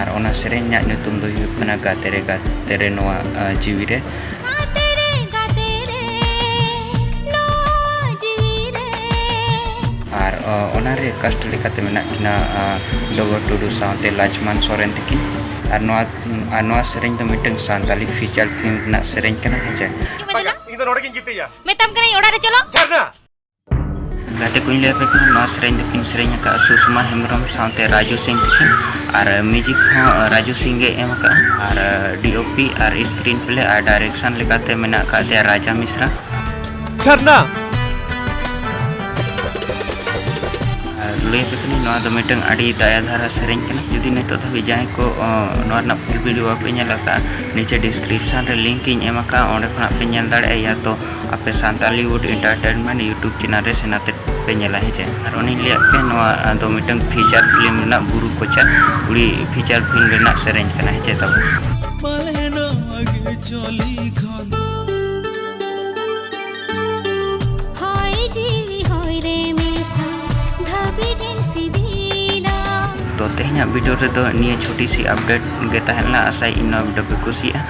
ᱟᱨ ᱚᱱᱟ ᱥᱮᱨᱮᱧ ᱨᱮᱱᱟᱜ ᱧᱩᱛᱩᱢ ᱫᱚ ᱦᱩᱭᱩᱜ ᱠᱟᱱᱟ ᱜᱟᱛᱮ ᱨᱮ ᱜᱟᱛᱮ ᱨᱮ ᱱᱚᱣᱟ ᱡᱤᱣᱤ ᱨᱮ ᱟᱨ ᱚᱱᱟ ᱨᱮ ᱠᱟᱥᱴ ᱞᱮᱠᱟᱛᱮ ᱢᱮᱱᱟᱜ ᱠᱤᱱᱟ ᱰᱚᱜᱚᱨ ᱴᱩᱰᱩ ᱥᱟᱶᱛᱮ ᱞᱟᱪᱢᱟᱱ ᱥᱚᱨᱮᱱ ᱛᱟᱹᱠᱤᱱ ᱟᱨ ᱱᱚᱣᱟ ᱟᱨ ᱱᱚᱣᱟ ᱥᱮᱨᱮᱧ ᱫᱚ ᱢᱤᱫᱴᱟᱝ ᱥᱟᱱᱛᱟᱞᱤ ᱯᱷᱤᱪᱟᱨ ᱯᱷᱤᱞᱢ ᱨᱮᱱᱟᱜ ᱥᱮᱨᱮᱧ ᱠᱟᱱᱟ ᱦᱮᱸ ᱪᱮ ᱤᱧ ᱫᱚ ᱱᱚᱰᱮ ᱜᱤᱧ ᱜᱤᱛᱤᱡᱟ ᱢᱮᱛᱟᱢ ᱠᱟᱹᱱᱟᱹᱧ ᱚᱲᱟᱜ ᱨᱮ ᱪᱚᱞᱚ ᱡᱷᱟᱨᱱᱟ ᱜᱟᱛᱮ ᱠᱚᱧ ᱞᱟᱹᱭ ᱟᱯᱮ ᱠᱟᱱᱟ ᱱᱚᱣᱟ ᱥᱮᱨᱮᱧ ᱫᱚᱠᱤᱱ ᱥᱮᱨᱮᱧ ᱟᱠᱟᱫᱼᱟ ᱥᱩᱥᱢᱟ ᱦᱮᱢᱵᱨᱚᱢ ᱥᱟᱶᱛᱮ ᱨᱟᱡᱩ ᱥᱤᱝ ᱛᱟᱹᱠᱤᱱ ᱟᱨ ᱢᱤᱭᱩᱡᱤᱠ ᱦᱚᱸ ᱨᱟᱡᱩ ᱥᱤᱝ ᱜᱮ ᱮᱢ ᱟᱠᱟᱫᱼᱟ ᱟᱨ ᱰᱤ ᱳ ᱯᱤ ᱟᱨ ᱥᱠᱨᱤᱱ ᱯᱞᱮ ᱟᱨ ᱰᱟᱭᱨᱮᱠᱥᱚᱱ ᱞᱮᱠᱟᱛᱮ ᱢᱮᱱᱟᱜ ᱟᱠᱟᱫ ᱛᱟᱭᱟ ᱨᱟᱡᱟ ᱢᱤᱥᱨᱟ ᱡᱷᱟᱨᱱᱟ ᱞᱟᱹᱭ ᱟᱯᱮ ᱠᱟᱹᱱᱟᱹᱧ ᱱᱚᱣᱟ ᱫᱚ ᱢᱤᱫᱴᱟᱝ ᱟᱹᱰᱤ ᱫᱟᱭᱟ ᱫᱷᱟᱨᱟ ᱥᱮᱨᱮᱧ ᱠᱟᱱᱟ ᱡᱩᱫᱤ ᱱᱤᱛᱚᱜ ᱫᱷᱟᱹᱵᱤᱡ ᱡᱟᱦᱟᱸᱭ ᱠᱚ ᱱᱚᱣᱟ ᱨᱮᱱᱟᱜ ᱯᱷᱩᱞ ᱵᱷᱤᱰᱤᱭᱳ ᱵᱟᱯᱮ ᱧᱮᱞ ᱟᱠᱟᱫᱼᱟ ᱱᱤᱪᱮ ᱰᱤᱥᱠᱨᱤᱯᱥᱚᱱ ᱨᱮ ᱞᱤᱝᱠ ᱤᱧ ᱮᱢ ᱟᱠᱟᱫᱼᱟ ᱚᱸᱰᱮ ᱠᱷᱚᱱᱟᱜ ᱯᱮ ᱧᱮᱞ ᱫᱟᱲᱮᱭᱟᱜᱼᱟ ᱭᱟ ᱛᱚ ᱟᱯᱮ Santali wood entertainment YouTube channel ᱨᱮ ᱥᱮᱱ ᱟᱛᱮ ᱯᱮ ᱧᱮᱞᱟ ᱦᱮᱸ ᱪᱮ ᱟᱨ ᱩᱱᱤ ᱞᱟᱹᱭᱟᱫ ᱯᱮ ᱱᱚᱣᱟ ᱫᱚ ᱢᱤᱫᱴᱟᱝ ᱯᱷᱤᱪᱟᱨ ᱯᱷᱤᱞᱢ ᱨᱮᱱᱟᱜ ᱵᱩᱨᱩ ᱠᱚᱪᱟ ᱠᱩᱲᱤ ᱯᱷᱤᱪᱟᱨ ᱯᱷᱤᱞᱢ ᱨᱮᱱᱟᱜ ᱥᱮᱨᱮᱧ ᱠᱟᱱᱟ ᱦᱮᱸ ᱪᱮ ᱛᱟᱵᱚ ᱯᱟᱞᱮ ᱱᱚᱣᱟ ᱜᱮ ᱪᱚᱞᱤ ᱠᱷᱟᱱ ᱦᱚᱭ ᱡᱤᱣᱤ ᱦᱚᱭ ᱨᱮ ᱢᱮᱥᱟ ᱫᱷᱟᱹᱵᱤ ᱫᱤᱱ ᱥᱤᱵᱤᱞᱟ ᱛᱚ ᱛᱮᱦᱮᱧᱟᱜ ᱵᱷᱤᱰᱤᱭᱳ ᱨᱮᱫᱚ ᱱᱤᱭᱟᱹ ᱪᱷᱩᱴᱤ ᱥᱤ ᱟᱯᱰᱮᱴ ᱜᱮ ᱛᱟᱦᱮᱸ ᱞᱮᱱᱟ ᱟᱥᱟᱭᱟᱹᱧ ᱱᱚᱣᱟ ᱵᱷᱤᱰᱤᱭᱳ ᱯᱮ ᱠᱩᱥᱤᱭᱟᱜᱼᱟ